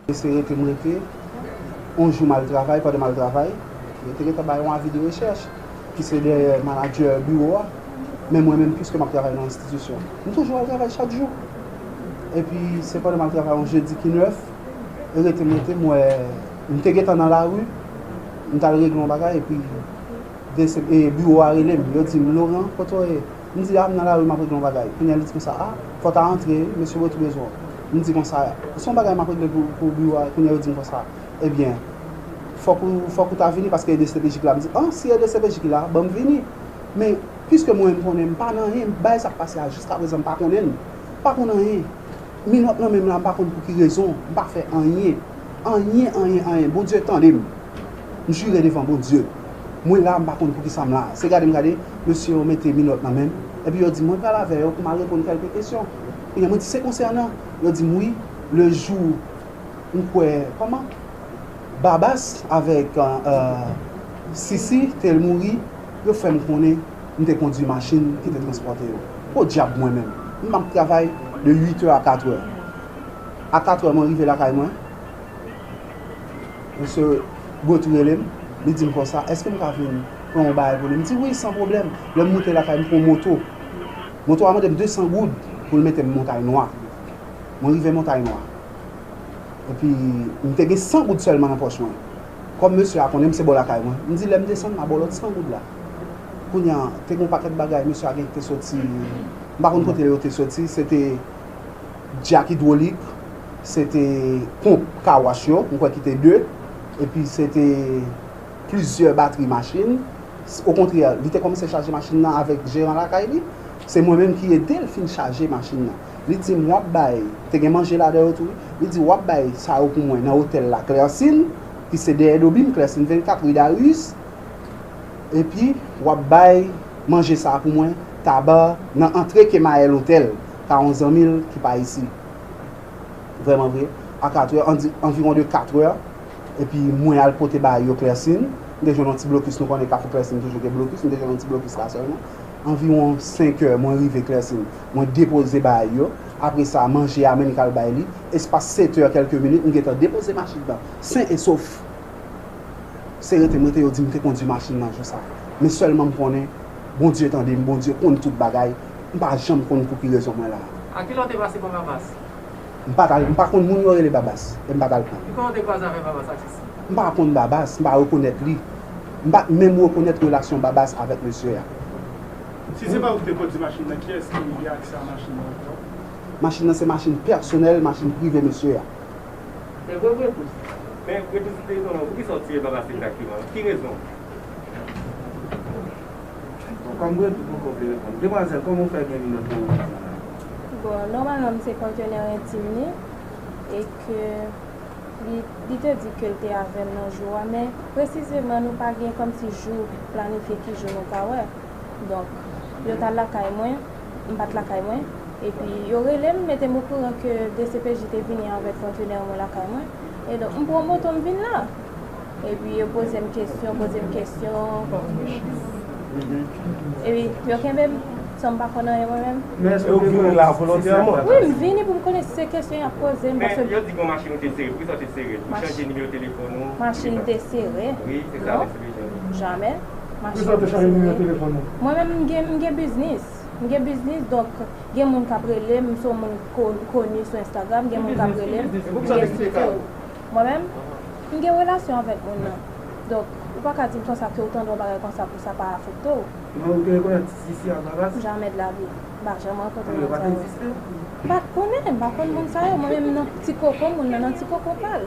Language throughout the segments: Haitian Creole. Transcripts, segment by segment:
Mesye rete m rete, yon jou m al travay, pandan m al travay, yo te gentan bay yon avi de rechèch ki se dèyè manadjè biwo a, men mwen menm piske m ap travay nan enstitisyon, m toujou al travay chak jou. Epi se pandan m al travay yon jedi ki 9, rete m rete m wè, m te gentan nan lari, m t al regle yon bagay epi. Dcpj biwo a rele m, yo di m, Laurent, kote w ye? M di, A, m nan lari m ap regle yon bagay. Kounye a li di konsa, A, fò w ta antre, mesye Bottou bezwen w. M di konsa, Se yon bagay m ap regle pou biwo a. Kounye a yo di m konsa, Ebyen, fòk ou, fòk ou ta vini paske e dcpj ki la. M di, An, si e dcpj ki la, ban m vini. Men, piske mwen menm m konnen m pa nan anyen, bagay sa k pase a jiskaprezan m pa konnen l. M pa konn anyen. Minòt nan menm la mpa konn pouki rezon mpa fè anyen anyen anyen anyen Bondye tandem m jure devan Bondye mwen la mpa konn poukisa mla se gade m gade mesye yo mete minòt nan menm epi yo dim mwen pral avè yo pou mal reponn kèlke kesyon kounya mwen di se konsènan yo dim wi le jou m kwè kòman Babas avèk Sisi te mouri yo fèm konnen. M te kondwi machin ki te transpòte yo. Podyab mwen menm! M ap travay de uitè a katrè. A katrè mwen rive lakay mwen. Mesye Gauthier rele m, li di m konsa, èske m ka vin pran yon bagay pou li? M di wi, san pwoblèm. Lè m moute lakay, m pran moto. Moto a mande m 200 goud pou l mete m Montay Nwa. Mwen rive Montay Nwa. Epi, m te gen 100 goud sèlman nan pòch mwen. Kòm mesye a konnen m se bò lakay mwen, m di lè m desann, m a ba w lòt 100 goud la. Kounya te gen yon pakèt bagay mesye a gen ki te soti m pa konn kote yo te soti se te dyak idwolik se te ponp car wash yo m kwè ki te 2 epi se te plizyè batri machin okontrè li te kòmanse chaje machin nan avèk jeran lakay li se mwen menm ki ede l fin chaje machin nan li di m w ap bay te gen manje ladan yo tou wi li di w ap bay sa yo pou mwen nan otèl laklèsin ki se dèyè dobim klèsin 24 ri darius Epi wap bay manje sa pou mwen taba nan antre kemael hotel pa yon zanmi l ki pa isi vreman vre a 4 heure an di anviron de 4 heure epi mwen al pote bay yo klèsin m te jwenn yon ti blokis nou konnen kafou klèsin toujou gen blokis m te jwenn yon ti blokis la sèlman anviron 5 heure mwen rive klèsin mwen depoze bay yo apre sa manje a menm kal bay li espas 7 heure kelke minit m gentan depoze machin nan sen e sof. Se rete m rete yo di m te kondwi machin nan jou sa. Men sèlman m konnen Bondye tande m, Bondye konn tout bagay, m pa janm konn pou ki rezon mwen la a. Ak kilè w te pase pran Babas? M pa t al, m pa konn moun yo rele Babas e m pa t al pran l. Kikan w te kwaze avèk Babas ak Sisi? M pa konn Babas, m pa rekonèt li. M pa t menm rekonèt relasyon Babas avèk mesye a. Si se pa ou ki te kondwi machin nan, kiyès ki gen aksè a machin nan ankò? Machin nan se machin pèsonèl, machin prive mesye a. Te gwo bretous. Men bretous li te yon moun. Poukisa ou tire baba sila ak piman? Pou ki rezon? Bon, kòm bretous poko vle reponn. Demwazèl, kòman ou fè gen minòt nan men ou? Bon, nòmalman m se patenè entim li e ke li te di ke l te avè m nan jou a men presizeman nou pa gen kòmsi jou planifye ki jou nou ka wè. Donk, yo t al lakay mwen. M pa t lakay mwen, epi yo rele m mete m okouran ke dcpj te vini avèk kontenè mwen lakay mwen, edonk m pran moto m vin la. Epi yo poze m kesyon, poze m kesyon, epi yo kenbe m san m pa konn anyen mwen menm. Men èske w te vini la volontèman? Wi, m vini pou m konnen si se kesyon y ap poze m, paske. Men yo di gen yon machin ou te sere, poukisa w te sere l? Pou chanje nimewo telefòn ou? Machin m te sere? Wi, se sa. Jamè, machin m se mwen. Mwen menm m gen m gen biznis. M gen biznis donk gen moun k ap rele m, m se yon moun koni sou Instagram, gen moun k ap rele m, m gen siksè. Mwen menm, m gen relasyon avèk moun nan. Donk, ou pa ka di m konsa ke ou tande yon bagay konsa pou sa pa afekte w. Men ou te konnen ti Sisi a Vavax? Jamè de la vi. M pa janm rankontre moun sa yo. Yo pa t egziste? M pa t konnen. M pa konn moun sa yo. Mwen menm m nan ti koko moun nan, nan ti koko pa l.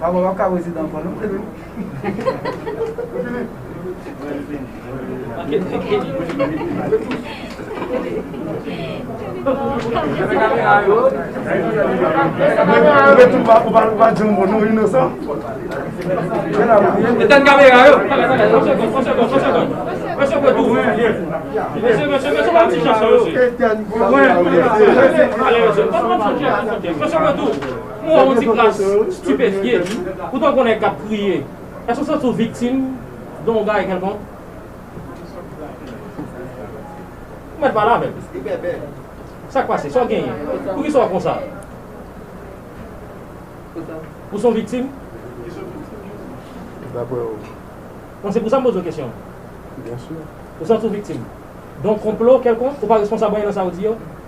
Pablo wap ka prezidan ankò non Philippe. Ou wè yon ti kras stipefye ou tankou yon nèg k ap kriye. Èske w santi w viktim de yon bagay kèlkonk? Ou mèt pale avè m. Sa k pase? Sa w genyen? Poukisa w konsa? Ou se yon viktim? Daprè ou? Bon, se pou sa m poze w kesyon an. Byensi. Ou santi w viktim de yon konplo kèlkonk? Ou pa responsab anyen nan sa yo di yo?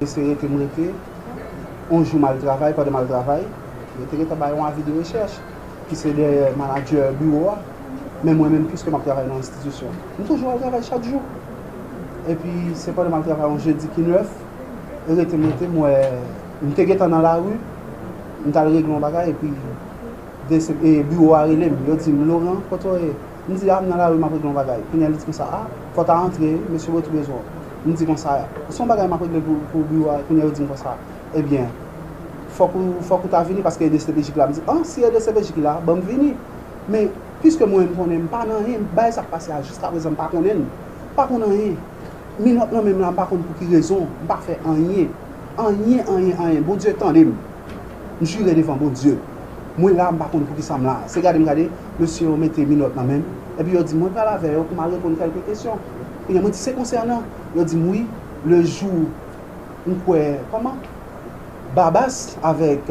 Mesye rete m rete, on jou m al travay, pandan m al travay, yo te gentan bay on avi de rechèch ki se dèyè manadjè biwo a, men mwen menm piske m ap travay nan enstitisyon, m toujou al travay chak jou. Epi se pandan m al travay on jedi ki 9, rete m rete m wè, m te gentan nan lari, m t al regle on bagay epi biwo a rele m, yo di m Laurent, kote w ye? M di a, m nan lari m ap regle yon bagay. Kounye a li di konsa a, fò w ta antre, mesye Botry bezwen w. M di konsa a, se yon bagay m ap regle pou biwo a, kounye a yo di m konsa a, ebyen, fòk ou, fòk ou ta vini paske edcpj ki la. M di an, si edcpj ki la, ban m vini. Men, piske mwen menm konnen m pa nan anyen, bagay sa k pase a jiskaprezan m pa konnen l, m pa konn anyen. Minòt lan menm la m pa konn pou ki rezon, m pa fè anyen. Anyen, anyen, anyen. Bondye tande m. M jire devan Bondye. Mwen la m pa konn poukisa m la. Se gade m gade, mesye yo mete minòt nan men m, epi yo di m mwen pral avè yo pou m al reponn kèlke kesyon. Kounye a mwen di se konsènan, yo di m wi, lejou m kwè kòman? Babas avèk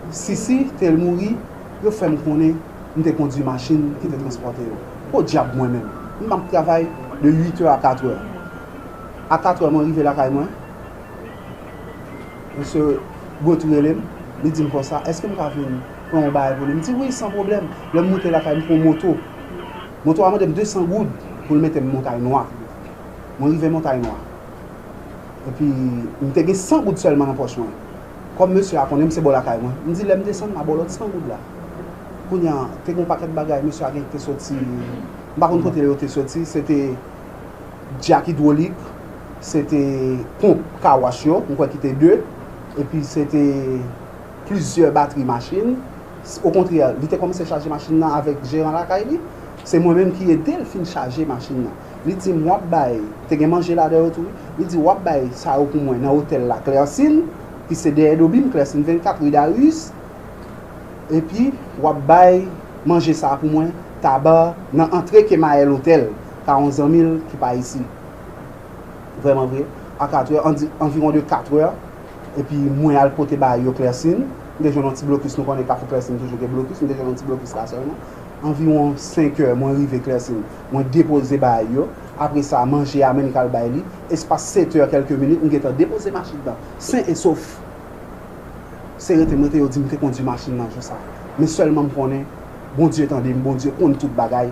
Sisi te mouri, yo fè m konnen m te kondui machin ki te transpòte yo. Podyab mwen menm, m ap travay de uitè a katrè. A katrè mwen rive lakay mwen. Mesye Gauthier rele m, li di m konsa, èske m ka vin pran yon bagay pou li? M di wi, san pwoblèm. Lè m moute lakay, m pran yon moto. Moto a mande m 200 goud pou l mete m Montay Nwa. Mwen rive Montay Nwa. Epi, m te gen 100 goud sèlman nan pòch mwen. Kòm mesye a konnen m se bò lakay mwen, m di lè m desann, m a ba w lòt 100 goud la. Kounye a, te gen yon pakèt bagay mesye a gen ki te soti, m pa konn kote yo te soti, se te. Dyak idwolik, se te ponp kawash yo, m kwè ki te de, epi se te plizyè batri machin. Okontrè, li te kòmanse chaje machin nan avèk jeran lakay li. Se mwen menm ki ede l fin chaje machin nan. Li di m, w ap bay, te gen manje ladan yo tou wi, li di, w ap bay sa yo pou mwen nan otèl la Klèsin, ki se dèyè Dobim, Klèsin 24, ri Dariis, epi w ap bay manje sa a pou mwen Tabar, nan antre Kemayèl otèl. ka yon zanmi l ki pa isi vrèman vre a 4 è, an di anviwon de 4 è, epi mwen al pote ba yo klèsin, m te jwenn yon ti blokis, nou konnen kafou klèsin toujou gen blokis, m te jwenn yon ti blokis la sèlman, anviwon 5 è mwen rive klèsin, mwen depoze ba yo, apre sa manje a menm kal bay li, espas 7 è kèlke minit m gentan depoze machin nan sen e sof, se rete m rete yo di m te kondwi machin nan jou sa, men sèlman m konnen Bondye tande m, Bondye konn tout bagay.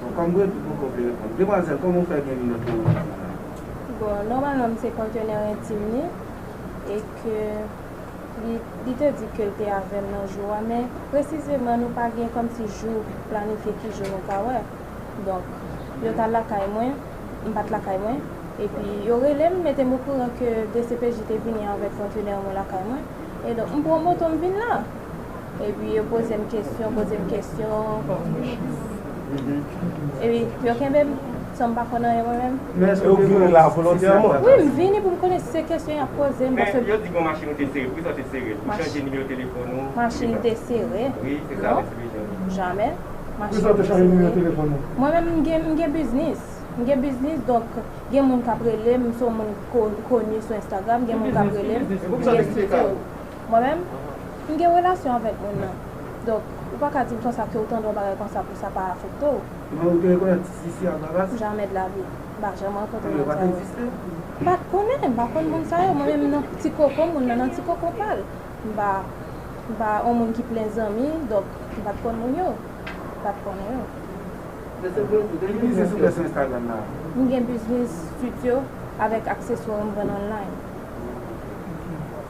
Bon kòm mwen tou poko vle reponn. Demwazèl kòman ou fè gen linèt nan machin sa a? Bon nòmalman m se kontenè entim li e ke li te di ke l te avè m nan jou a men presizeman nou pa gen kòmsi jou planifye ki jou nou ka wè. Donk yo t al lakay mwen, m pa t lakay mwen epi yo rele m mete m okouran ke dcpj te vini avèk kontenè mwen lakay mwen e donk m pran moto m vin la. Epi yo poze m kesyon, poze m kesyon. Epi yo kenbe m san m pa konn anyen mwen menm. E ou vini la volontèman? Wi, m vini pou m konnen si se kesyon y ap poze m. Men yo di gen yon machin ou te sere. Poukisa ou te sere l? Pou chanje nimewo telefòn ou? Machin m te sere? Wi, se sa yo te bezwen yo di. Jamè. Poukisa ou te chanje nimewo telefòn ou? Mwen menm m gen biznis. M gen biznis donk gen moun k ap rele m. M se yon moun koni sou Instagram. Gen moun k ap rele m. Ki biznis ou gen? E poukisa ou te kite l? Mwen menm, m gen relasyon avèk moun nan. Donk, ou pa ka di m konsa ke ou tande yon bagay konsa pou sa pa afekte w. Men ou te rekonèt atis isi a Bravas? Jamè de la vi. M pa janm rankontre moun sa yo. M pa t konnen, m pa konn moun sa yo. Mwen menm nan ti koko moun nan, nan ti koko pa l. M pa, m pa yon moun ki plen zanmi, donk, m pa t konn moun yo. M pa t konnen yo. Ki biznis ou gen sou Instagram la? M gen biznis studio avèk akseswa m vann online.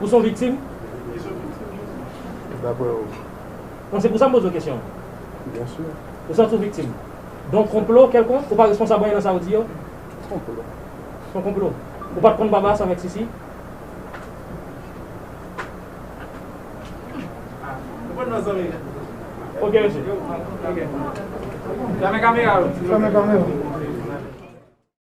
Ou son viktim? Ki son viktim yo di? Dapre ou? Bon se pou sa m poze w kesyon an. Byen si. Ou santi w viktim? Don konplo kèlkonk? Ou pa responsab anyen nan sa ou di yo? Ki konplo? Son konplo. Ou pat konn Babas avèk Sisi? Ou konn nan zanmi yo? Ok mesye. Fèmen kamera yo. Fèmen kamera.